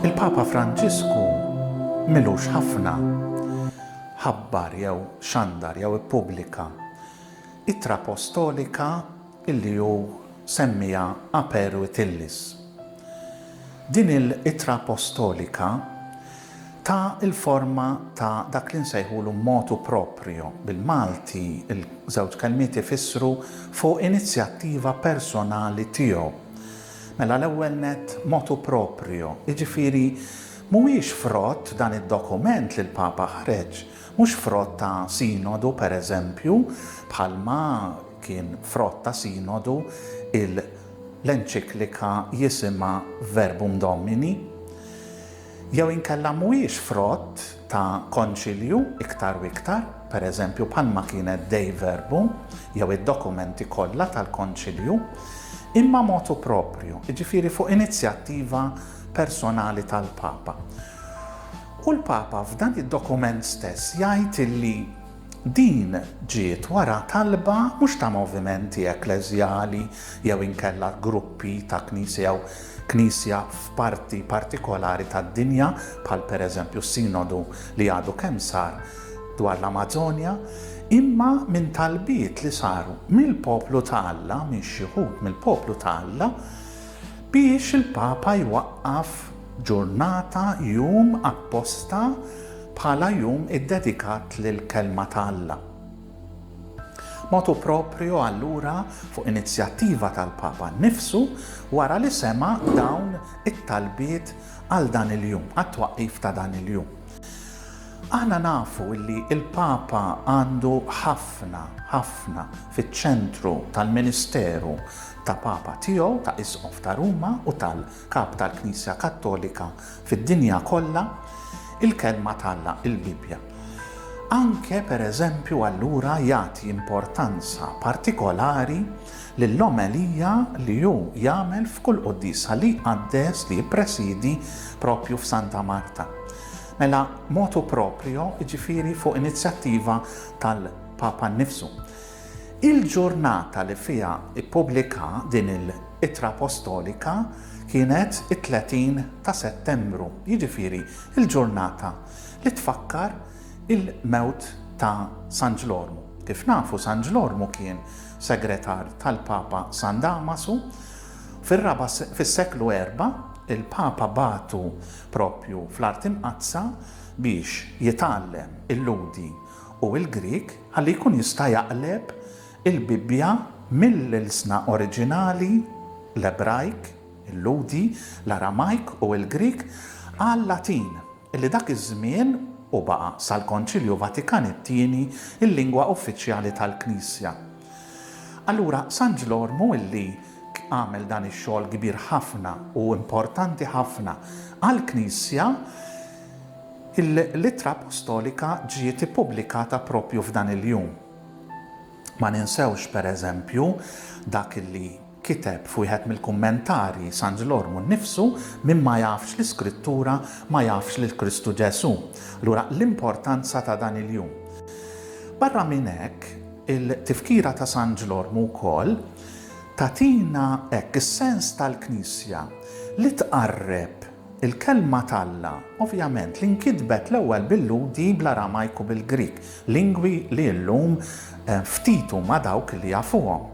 Il-Papa Franġisku milux ħafna ħabbar jew xandar jew ippubblika ittra postolika illi hu semmiha Aper Vitellis. Din il-ittra appostolika ta l-forma ta' dak li nsejħulu motu proprio, bil-Malti l-żewġ kelmiet ifissru fuq inizjattiva personali tiegħu. Mela l-ewwel nett motu proprio, jiġifieri mhuwiex frott dan id-dokument li l-Papa ħreġ, mhux frott ta' sinodu pereżempju bħalma, Kien frott ta' Sinodu l-enċiklika jisimha Verbum Domini? Jew inkella mhuwiex frott ta' Konċilju iktar u iktar, per eżempju bħalma kienet Dei Verbum jew id-dokumenti kollha tal-Konċilju, imma motu proprju, jiġifieri fuq inizjattiva personali tal-Papa? U l-Papa f'dan id-dokument stess jgħid illi Din ġiet wara talba mhux ta' movimenti ekkleżjali jew inkella gruppi ta' knisja jew knisja f'parti partikolari tad-dinja, bħal pereżempju s-Sinodu li għadu kemm sar dwar l-Amażonja, imma minn talbiet li saru mill-poplu ta' Alla, minn xi wħud mill-poplu ta' Alla, biex il-Papa jwaqqaf ġurnata, jum, apposta, Bħala jum iddedikat lill-Kelma ta' Alla. Motu proprio allura fuq inizjattiva tal-Papa nnifsu wara li sema' dawn it-talbiet għal dan il-jum, għat-twaqqif ta' dan il-jum. Aħna nafu li l-Papa għandu ħafna, ħafna fiċ-ċentru tal-ministeru ta' Papa tiegħu, ta' Isqof ta' Ruma u tal. Kap tal-Knisja Kattolika fid-dinja kollha, il-Kelma t'Alla, il-Bibbja. Anke, per eżempju, allura jagħti importanza partikolari lill-omelija li hu jagħmel f'kull quddiesa li jqaddes, li jippresiedi proprju f'Santa Marta. Mela, motu proprio, jiġifieri fuq inizjattiva tal-Papa nnifsu. Il-ġurnata li fiha ppubblika din il-Ittra Appostolika kienet it-30 ta' Settembru, jiġifieri l-ġurnata li tfakkar il-mewt ta' San Ġlormu. Kif nafu San Ġlormu kien segretar tal-Papa San Damasu. Fir-raba' fis-seklu erbgħa, il-Papa bagħtu proprju fl-Art Imqaddsa biex jitgħallem il-Lhudi u l-Grieg ħalli jkun jista' jaqleb il-Bibbja mill-ilsna oriġinali, l-Ebrajk, il-Lhudi, l-Aramajk u l-Grieg, għal-Latin, li dak iż-żmien, u baqa' sal-Konċilju Vatikan it-Tieni, il-lingwa uffiċjali tal-Knisja. Allura, San Ġlormu li għamel dan ix-xogħol kbir ħafna u importanti ħafna għall-Knisja, L-Ittra Appostolika ġiet ippubblikata proprju f'dan il-jum. Ma ninsewx, per eżempju, dak li kiteb f'wieħed mill-kummentarji San Ġlormu nnifsu, Min ma jafx l-Iskrittura ma jafx lil Kristu Ġesù. Allura l-importanza ta' dan il-jum. Barra minn hekk, il-Tifkira ta' San Ġlormu wkoll tagħtina hekk is-sens tal-Knisja li tqarreb, Il-Kelma t'Alla, ovvjament, li nkitbet l-ewwel bil-Lhudi, bl-Aramajk u bil-Grieg, lingwi li llum ftit huma dawk li jafuhom.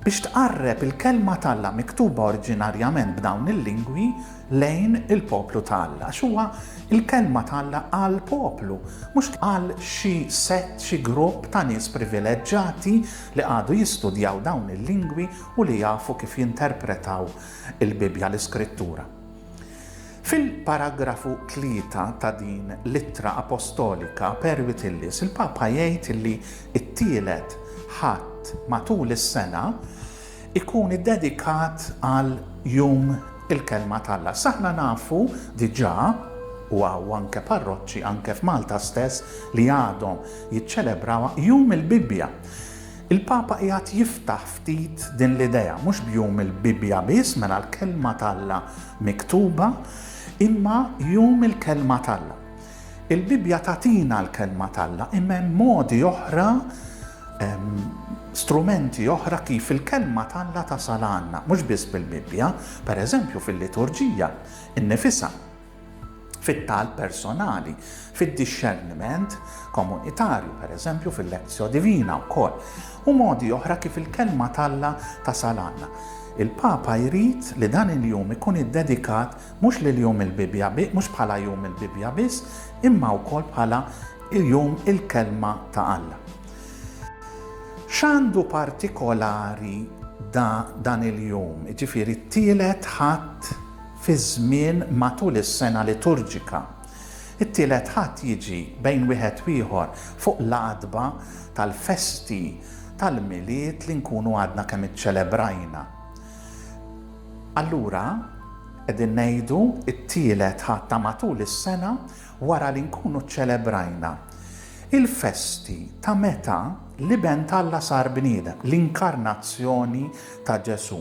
Biex tqarreb il-Kelma t'Alla miktuba oriġinarjament b'dawn il-lingwi lejn il-poplu ta' Alla, għax huwa l-Kelma t'Alla għall-poplu, mhux għal xi sett, xi grupp ta' nies privileġġati li qagħdu jistudjaw dawn il-lingwi u li jafu kif jinterpretaw il-Bibbja, l-Iskrittura. Fil-paragrafu tlieta ta' din l-ittra apostolika per Vitellius, il-Papa jgħid li t-tielet Ħadd matul is-sena ikun iddedikat għal Jum il-Kelma t'Alla. S'aħna nafu diġà u hawn anke parroċċi anke f'Malta stess li għadhom jiċċelebrawha Jum il-Bibbja. Il-Papa qiegħed jiftaħ ftit din l-idea, mhux b'jum il-Bibbja biss, mela l-Kelma t'Alla miktuba, imma jum il-Kelma t'Alla. Il-Bibbja tagħtina l-Kelma t'Alla, imma hemm modi oħra, strumenti oħra kif il-Kelma t'Alla tasal għandna, mhux biss bil-Bibbja, pereżempju fil-liturġija innifisha. fit-talb personali, fid-dixxerniment komunitarju, pereżempju fil-lezzjo divina wkoll, u modi oħra kif il-Kelma t'Alla tasal għandna. Il-Papa jrid li dan il-jum ikun iddedikat mhux lil jum il-Bibbja mhux bħala jum il-Bibbja biss, imma wkoll bħala jum il-Kelma ta' Alla. X'għandu partikolari dan il-jum, jiġifieri t-tielet Ħadd fiż-żmien matul is-sena liturġika. It-Tielet Ħadd jiġi, bejn wieħed u ieħor, fuq l-għatba tal-festi tal-Milied li nkunu għadna kemm iċċelebrajna. Allura, qegħdin ngħidu t-Tielet Ħadd ta' matul is-sena wara li nkunu ċċelebrajna il-festi ta' meta l-Iben t'Alla sar bniedem, l-Inkarnazzjoni ta' Ġesù.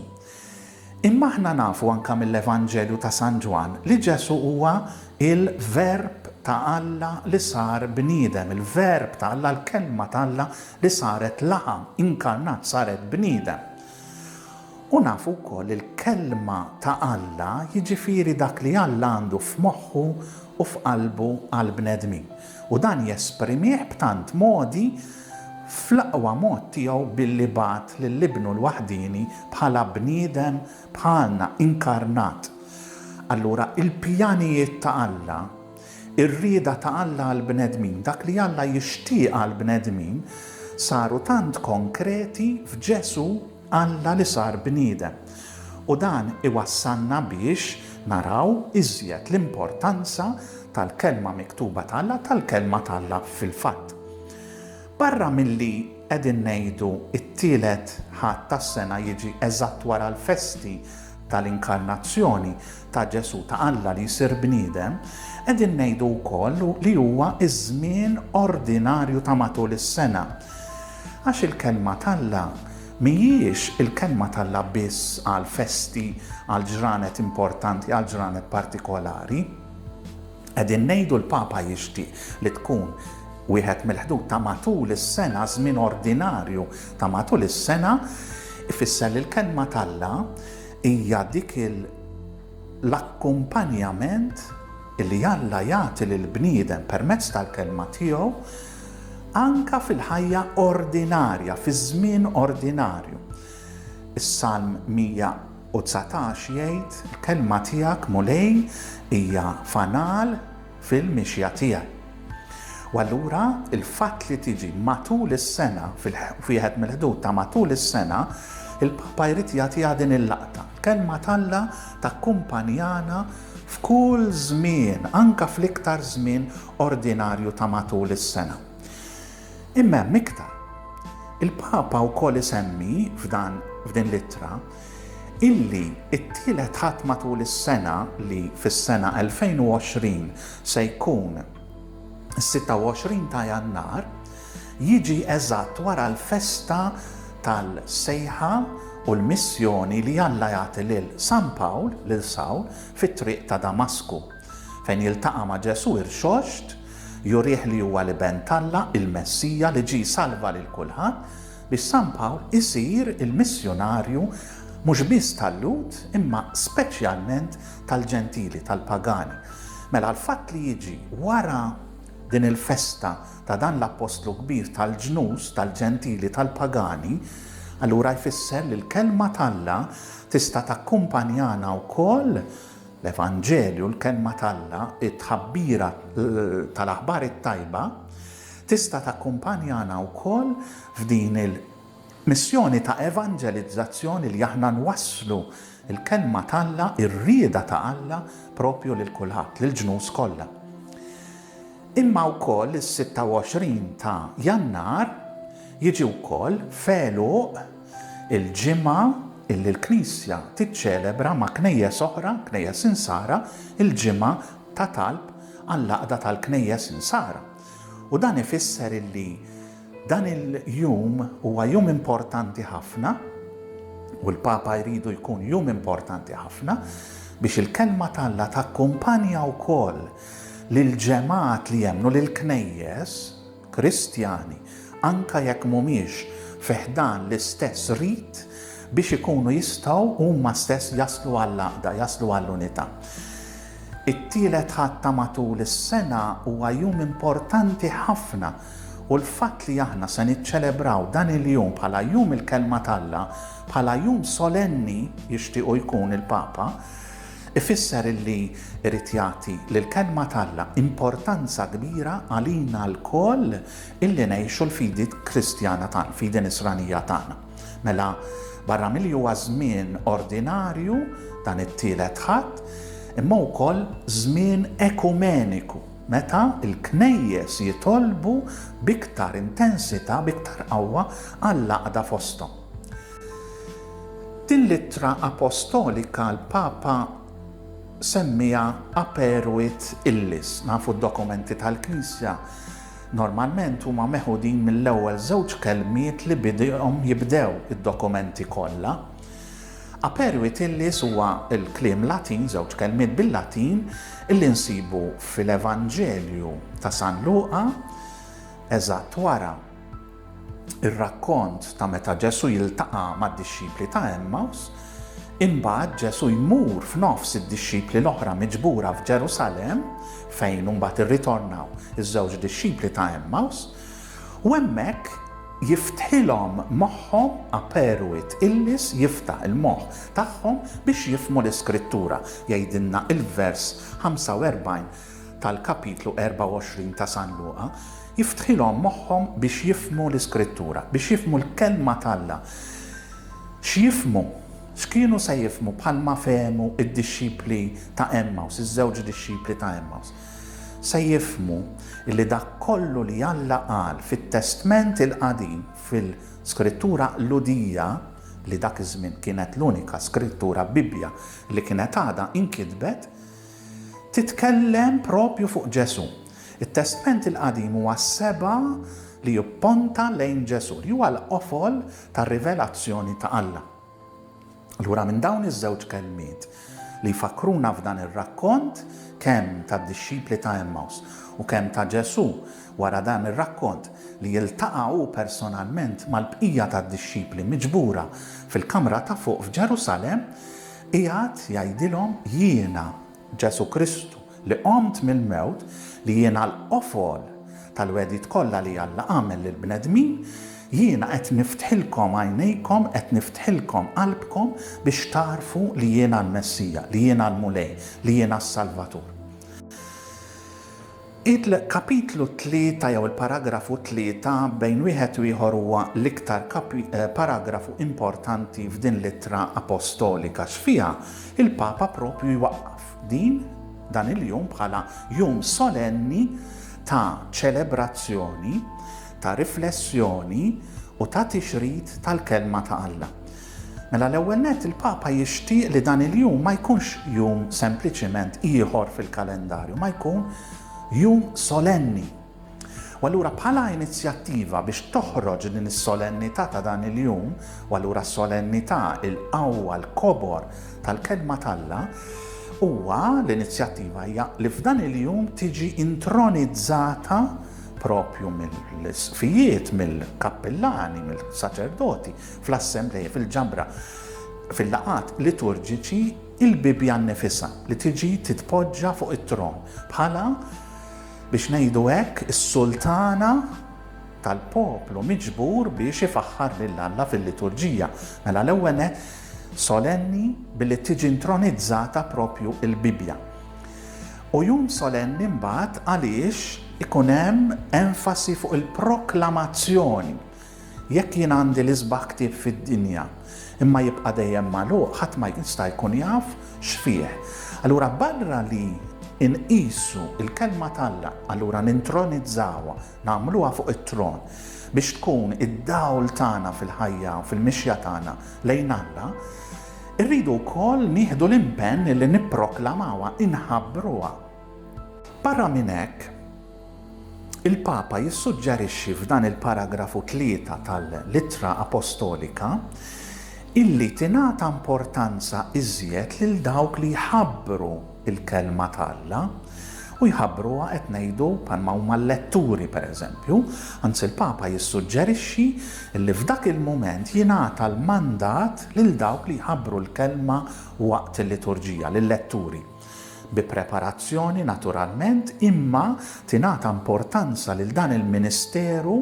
Imma aħna nafu anke mill-Evanġelju ta' San Ġwann li Ġesù huwa il-Verb ta' Alla li sar bniedem, il-Verb ta' Alla, l-Kelma ta' Alla li saret laħam, inkarnat, saret bniedem. U nafu wkoll li l-Kelma ta' Alla, jiġifieri dak li Alla għandu f'moħħu u f'qalbu għall-bnedmin. U dan jesprimieh b'tant modi fl-aqwa mod tiegħu billi bagħat lil Ibnu l-waħdieni bħala bniedem bħalna, inkarnat. Allura il-pjanijiet ta' Alla, ir-rieda ta' Alla għall-bnedmin, dak li Alla jixtieq għall-bnedmin, saru tant konkreti f'Ġesù, Alla li sar bniedem. U dan iwassalna biex naraw iżjed l-importanza tal-Kelma miktuba t'Alla, tal-Kelma t'Alla fil-fatt. Barra milli qegħdin ngħidu t-Tielet Ħadd tas-sena jiġi eżatt wara l-festi tal-Inkarnazzjoni, ta' Ġesù, ta' Alla li jsir bniedem, qegħdin ngħidu wkoll li huwa ż-żmien ordinarju ta' matul is-sena. Għax il-Kelma t'Alla mhijiex il-Kelma t'Alla biss għal festi, għal ġranet importanti, għal ġranet partikolari. Qegħdin ngħidu l-Papa jixtieq li tkun wieħed mill-ħdud ta' matul is-sena, żmien ordinarju ta' matul is-sena, ifisser li l-Kelma t'Alla Hija dik il l-akkumpanjament li Alla jagħti lill-bniedem permezz tal-Kelma tiegħu anke fil-ħajja ordinarja, fiż-żmien ordinarju. Is-Salm 119 jgħid, Il-Kelma tiegħek, Mulej, hija fanal fil-mixja tiegħi. U allura il-fatt li tiġi matul is-sena f'wieħed mill-ħdud ta' matul is-sena, il-Papa jrid jagħtiha din il-laqta. Kelma t'Alla takkumpanjana f'kull żmien, anke fl-iktar żmien ordinarju ta' matul is-sena. Imma hemm iktar. Il-Papa wkoll isemmi f'dan f'din l-ittra illi t-tielet Ħadd matul is-sena li fis-sena 2020 se jkun is-26 ta' Jannar, jiġi eżatt wara l-festa tal-sejħa u l-missjoni li Alla jagħti lil San Pawl, lil Sawl, fit-triq ta' Damasku, fejn jiltaqa' ma' Ġesù irxoxt, jurih li huwa l-Iben t'Alla, il-Messija li ġie jsalva lil kulħadd, Bi San Pawl isir il-missjunarju mhux biss tal-Lhud imma speċjalment tal-Ġentili, tal-pagani. Mela l-fatt li jiġi wara din il-festa ta' dan l-Appostlu kbir tal-ġnus, tal-Ġentili, tal-pagani, allura jfisser li l-Kelma t'Alla tista' takkumpanjana wkoll, l-Evanġelju, l-Kelma t'Alla, it-tħabbira tal-Aħbar it-Tajba, Tista' takkumpanjana wkoll f'din il-missjoni ta' evanġelizzazzjoni li aħna nwasslu l-Kelma t'Alla, ir-rieda ta' Alla, proprju lil kulħadd, lill-ġnus kollha. Imma wkoll is-26 ta' Jannar jiġi wkoll f'għeluq il-ġimgħa illi l-Knisja tiċċelebra ma' knejjes oħra, knejjes Insara, il-ġimgħa ta' talb għall-għaqda tal-Knejjes Insara. U dan ifisser illi dan il-jum huwa jum importanti ħafna, u l-Papa jridu jkun jum importanti ħafna, biex il-Kelma t'Alla takkumpanja wkoll lill-ġemgħat li jemmnu, lill-Knejjes, Kristjani, anke jekk mhumiex fi ħdan l-istess rit, biex ikunu jistgħu huma stess jaslu għall-għaqda, jaslu għall-unità. It-Tielet Ħadd ta' matul is-sena huwa jum importanti ħafna u l-fatt li aħna se niċċelebraw dan il-jum bħala Jum il-Kelma t'Alla, bħala jum solenni, jixtiequ jkun il-Papa, Ifisser li jrid jagħti lill-Kelma t'Alla importanza kbira għalina lkoll illi ngħixu l-fidi Kristjana tagħna, l-fidi Nisranija tagħna. Mela, barra milli huwa żmien ordinarju, dan it-Tielet Ħadd, imma hu wkoll żmien ekumeniku, meta l-Knejjes jitolbu b'iktar intensità, b'iktar qawwa, għall-għaqda fosthom. Din l-ittra apostolika l-Papa semmiha Aperuit illis. Nafu d-dokumenti tal-Knisja normalment huma meħudin mill-ewwel żewġ kelmiet li bihom jibdew id-dokumenti kollha. Aperuit illis huwa l-kliem Latin, żewġ kelmiet bil-Latin, li nsibu fil-Evanġelju ta' San Luqa, eżatt wara. ir-rakkont ta' meta Ġesù jiltaqa' mad-dixxipli ta' Għemmaws, imbagħad Ġesù jmur f'nofs id-dixxipli l-oħra miġbura f'Ġerusalemm, fejn imbagħad irritornaw iż-żewġ dixxipli ta' Għemmaws, u hemmhekk jiftħilhom moħħhom aperu it illis jiftaħ il-moħħ tagħhom biex jifhmu l-Iskrittura, jgħidilna l-vers 45 tal-kapitlu 24 ta' San Luqa jiftħilhom moħħhom biex jifhmu l-Iskrittura, biex jifhmu l-Kelma t'Alla. X'jifhmu? X'kienu se jifhmu bħalma fehmu d-dixxipli ta' Għemmaws, iż-żewġ dixxipli ta' Għemmaws? Se jifhmu li dak kollu li Alla qal fit-Testment il-Qadim, fil-Skrittura Qludija, li dak iż-żmien kienet l-unika Skrittura, Bibbja, li kienet għadha inkitbet, titkellem proprju fuq Ġesù. It-Testment il-Qadim huwa seba' li jipponta lejn Ġesù, li huwa l-qofol tar-rivelazzjoni ta' Alla. Allura minn dawn iż-żewġ kelmiet li jfakkruna f'dan ir-rakkont kemm tad-dixxipli ta' Emmaws u kemm ta' Ġesù wara dan ir-rakkont li jiltaqa' hu personalment mal-bqija tad-dixxipli miġbura fil-kamra ta' fuq f'Ġerusalemm, Qiegħed jgħidilhom, Jiena, Ġesù Kristu, li qomt mill-mewt, li jiena l-qofol tal-wegħdiet kollha li Alla għamel lill-bnedmin, jiena qed niftħilkom għajnejkom, qed niftħilkom qalbkom biex tagħrfu li jiena l-Messija, li jiena l-Mulej, li jiena s-Salvatur. Il-kapitlu tlieta jew il-paragrafu tlieta bejn wieħed u ieħor huwa l-iktar paragrafu importanti f'din l-ittra apostolika x'fiha l-Papa proprju jwaqqaf din dan il-jum bħala jum solenni ta' ċelebrazzjoni, ta' riflessjoni u ta' tixrid tal-Kelma ta' Alla. Mela l-ewwel nett il-Papa jixtieq li dan il-jum ma jkunx jum sempliċiment ieħor fil-kalendarju, ma jkun jum solenni. U allura bħala inizjattiva biex toħroġ din is-solennità ta' dan il-jum, u allura solennità il-qawwa l-kobor tal-kelma t'Alla, huwa l-inizjattiva hija li f'dan il-jum tiġi intronizzata propju mill-isqfijiet, mill-kappillani, mill-saċerdoti, Fl-assemblea, fil-ġabra, fil-laqgħat liturġiċi, il-Bibbja nnifisha li tiġi titpoġġa fuq it-tron bħala, biex ngħidu hekk, is-sultana tal-poplu miġbur biex ifaħħar lil Alla fil-liturġija. Mela l-ewwel nett solenni billi tiġi intronizzata proprju l-Bibbja. U jum solenni mbagħad għaliex ikun hemm enfasi fuq il-proklamazzjoni Jekk jien għandi l-isbaħ ktieb fid-dinja, imma jibqa' dejjem magħluq, ħadd ma jista' jkun jaf x'fih. Allura barra li nqisu l-Kelma t'Alla, allura nintronizzawha, nagħmluha fuq it-tron, biex tkun id-dawl tagħna fil-ħajja u fil-mixja tagħna lejn Alla, irridu wkoll nieħdu l-impenn li nipproklamawha, inħabbruha. Barra minn hekk, il-Papa jissuġġerixxi f'dan il-paragrafu tlieta tal-Ittra Apostolika illi tingħata importanza iżjed lil dawk li jħabbru l-Kelma t'Alla, u jħabbruha qed ngħidu bħalma huma l-letturi pereżempju, anzi l-Papa jissuġġerixxi illi f'dak il-mument jingħata l-mandat lil dawk li jħabbru l-Kelma waqt il-liturġija, lil-letturi. bi preparazzjoni naturalment, imma tingħata importanza lil dan il-ministeru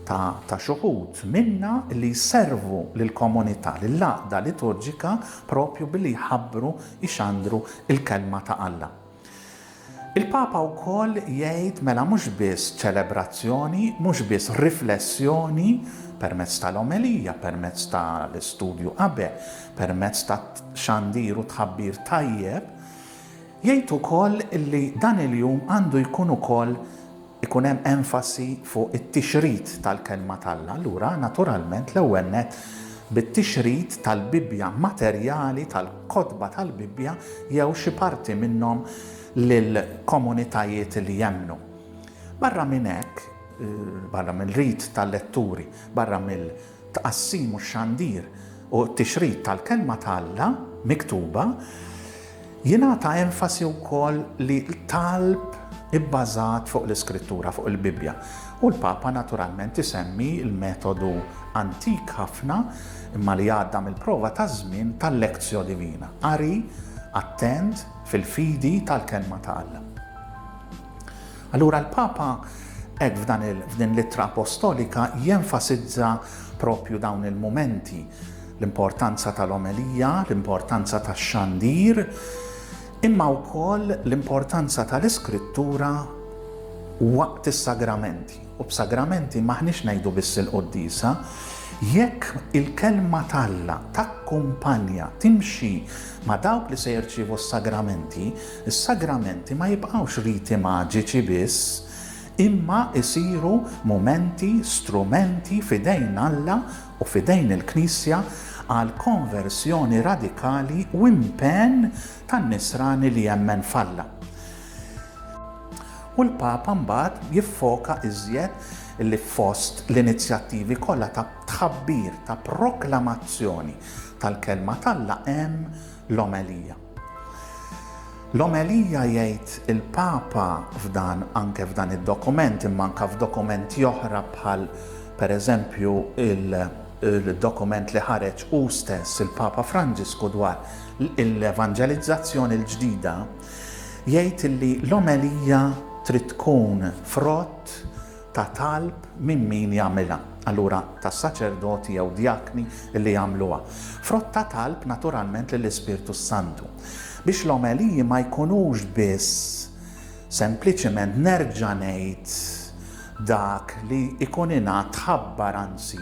ta' ta' xuħud minna li jservu lill-komunità, lill-għaqda liturġika proprju billi jħabbru, jxandru l-Kelma ta' Alla. Il-Papa wkoll jgħid mela mhux biss ċelebrazzjoni, mhux biss riflessjoni permezz tal-omelija, permezz ta' l-istudju abe, permezz ta' xandir u tħabbir tajjeb, jgħid ukoll li dan il-jum għandu jkun ukoll ikun hemm enfasi fuq it-tixrid tal-Kelma t'Alla. Allura, naturalment, l-ewwel nett bit-tixrid tal-Bibbja, materjali tal-kotba tal-Bibbja jew xi parti minnhom lil komunitajiet li jemmnu. Barra minn hekk, barra mill-rit tal-letturi, barra mill. tqassim u x-xandir u t-tixrid tal-Kelma ta' Alla miktuba, jingħata enfasi wkoll li talb ibbażat fuq l-Iskrittura, fuq il-Bibbja, u l-Papa naturalment isemmi l-metodu antik ħafna imma li għadda mill-prova taż-żmien tal-lectio divina, qari attent fil-fidi tal-Kelma ta' Alla. Allura l-Papa hekk f'dan il f'din l-Ittra Apostolika jenfasizza proprju dawn il-mumenti, l-importanza tal-omelija, l-importanza tax-xandir, imma wkoll l-importanza tal-Iskrittura waqt is-sagramenti. U b'sagramenti m'aħniex ngħidu biss il-quddiesa, jekk il-Kelma t'Alla takkumpanja, timxi ma' dawk li se jirċievu s-sagramenti, Is-sagramenti ma jibqgħux riti maġiċi biss, imma jsiru mumenti, strumenti f'idejn Alla u f'idejn il-Knisja għal konverżjoni radikali u impenn tan-nisrani li jemmen f'Alla. U l-Papa mbagħad jiffoka iżjed li fost l-inizjattivi kollha ta' tħabbir, ta' proklamazzjoni tal-Kelma t'Alla hemm l-omelija. L-omelija jgħid il-Papa f'dan anke f'dan id-dokument imma anke f'dokumenti oħra bħal per eżempju il-dokument li ħareġ hu stess il-Papa Franġisku dwar l-evanġelizzazzjoni l-ġdida jgħid li l-omelija trid tkun frott ta' talb minn min jagħmilha, allura tas-saċerdoti jew djakni li jagħmluha, frott ta' talb naturalment lill-Ispirtu s-Santu, biex l-omeliji ma jkunux biss sempliċiment nerġa' ngħid dak li jkun ingħad tħabbar anzi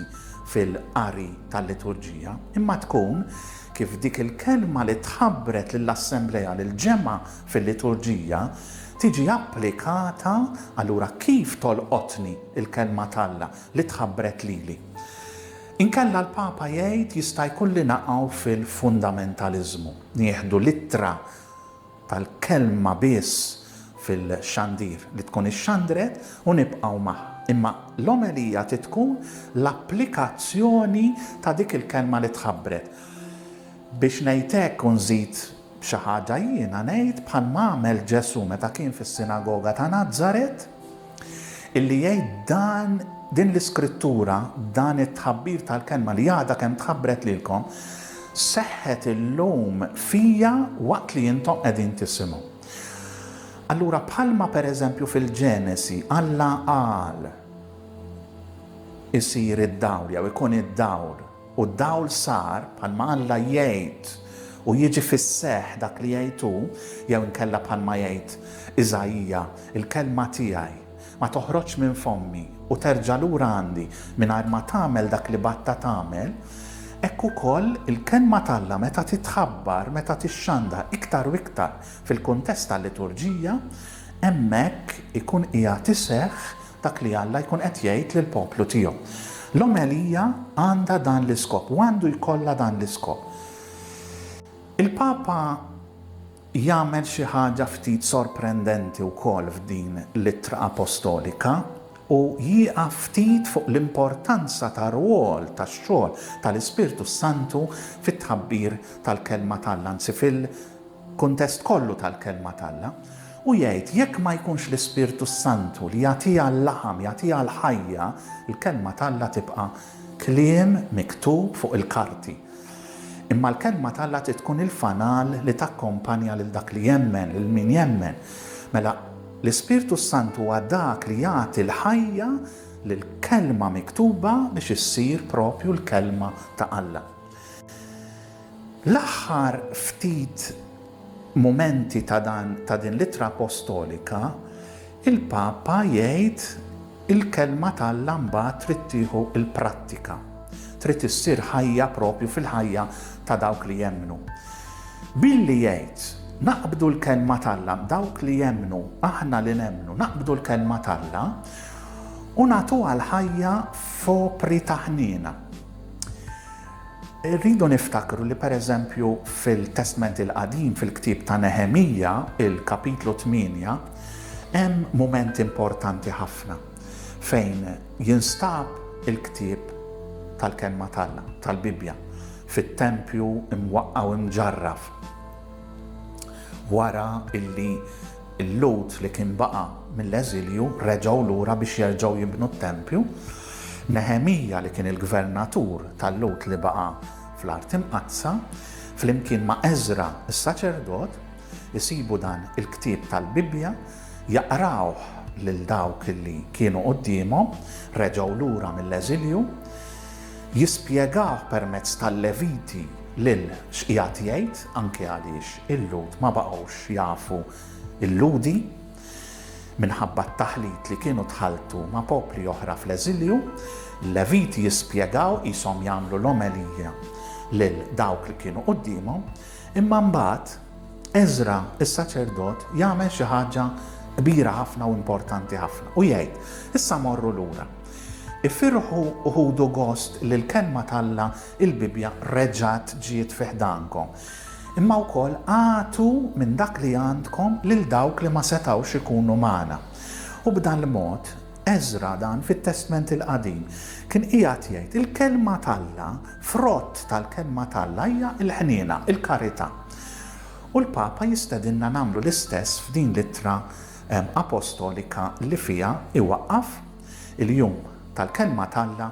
fil-qari tal-liturġija, imma tkun kif dik il-kelma li tħabbret lill-assemblea, lill-ġemgħa fil-liturġija, tiġi applikata, allura kif tolqotni l-Kelma t'Alla li tħabbret lili? Inkella l-Papa jgħid jista' jkun li naqgħu fil-fundamentaliżmu, nieħdu l-ittra tal-Kelma biss fil-xandir li tkun ixxandret u nibqgħu magħha. Imma l-omelija trid tkun l-applikazzjoni ta' dik il-Kelma li tħabbret. Biex ngħid hekk u nżid Xi ħaġa jiena ngħid bħal ma għamel Ġesù meta kien fis-sinagoga ta' Nazaret, illi jgħid dan din l-iskrittura, dan it-tħabbir tal-kelma li għadha kemm tħabbret lilkom, seħħet illum fija waqt li intom qegħdin tisimgħu. Allura bħalma pereżempju fil-Ġenesi Alla qal isir id-dawl jew ikun id-dawl, U d-dawl sar, bħalma Alla jgħid, u jiġi fis-seħħ dak li jgħid hu, jew inkella bħalma jgħid Iżaija, Il-kelma tiegħi ma toħroġx minn fommi u terġa' lura għandi mingħajr ma tagħmel dak li bagħtha tagħmel, hekk ukoll il-kelma t'Alla meta titħabbar, meta tixxandha iktar u iktar fil-kuntest tal-liturġija, hemmhekk ikun qiegħed iseħħ Dak li Alla jkun qed jgħid lill-poplu tiegħu. L-omelija għandha dan l-iskop u għandu jkollha dan l-iskop. Il-Papa jagħmel xi ħaġa ftit sorprendenti wkoll f'din l-Ittra Apostolika u jieqaf ftit fuq l-importanza tar-rwol tax-xogħol tal-Ispirtu s-Santu fit-tħabbir tal-Kelma t'Alla, anzi fil-kuntest kollu tal-Kelma t'Alla. U jgħid, Jekk ma jkunx l-Ispirtu s-Santu li jagħtiha l-laħam, jagħtiha l-ħajja, l-Kelma t'Alla tibqa' kliem miktub fuq il-karti. Imma l-Kelma t'Alla trid tkun il-fanal li takkompanja lil dak li jemmen, lil min jemmen. Mela, l-Ispirtu s-Santu huwa dak li jagħti l-ħajja lill-Kelma miktuba biex issir proprju l-Kelma ta' Alla. L-aħħar ftit mumenti ta' dan ta' din l-ittra appostolika, il-Papa jgħid il-kelma t'Alla mbagħad trid tieħu l-prattika, trid issir ħajja propju fil-ħajja ta' dawk li jemmnu. Billi jgħid, naqbdu l-kelma t'Alla, dawk li jemmnu, aħna li nemmnu, naqbdu l-kelma t'Alla u nagħtuha l-ħajja f'opri ta' ħniena. Irridu niftakru li pereżempju fil-Testment il-Qadim, fil-ktieb ta' Neħemija, il-kapitlu 8, hemm mument importanti ħafna fejn jinstab il-ktieb tal-Kelma t'Alla, tal-Bibbja, fit-tempju mwaqqgħu mġarraf. Wara illi Il-Lhud li kien baqa' mill-eżilju reġgħu lura biex jerġgħu jibnu t-tempju. Neħemija li kien il-gvernatur tal-Lhud li baqa' fl-Art Imqaddsa, flimkien ma' Eżra s-saċerdot, isibu dan il-ktieb tal-Bibbja, jaqrawh lil dawk li kienu quddiemhom, reġgħu lura mill-eżilju, jispjegawh permezz tal-Leviti lil x'qiegħed jgħid, anke għaliex il-Lhud ma baqgħux jafu l-Lhudi minħabba t-taħlit li kienu tħalltu ma' popli oħra fl-eżilju, l-Leviti jispjegaw qishom jagħmlu l-omelija lil dawk li kienu quddiemhom, imma mbagħad Eżra is-saċerdot jagħmel xi ħaġa kbira ħafna u importanti ħafna u jgħid, issa morru lura. Ifirħu uħudu gost li l-kelma t'Alla Il-Bibbja reġgħet ġiet fi ħdankom. Imma wkoll agħtu minn dak li għandkom lil dawk li ma setgħux ikunu magħna. U b'dal-mod, Eżra dan fit-Testment il-Qadim kien qiegħed jgħid, il-Kelma t'Alla, frott tal-Kelma t'Alla hija l-ħniena, il-karità. U l-Papa jistedinna nagħmlu l-istess f'din l-ittra Apostolika li fiha iwaqqaf il-Jum tal-Kelma t'Alla,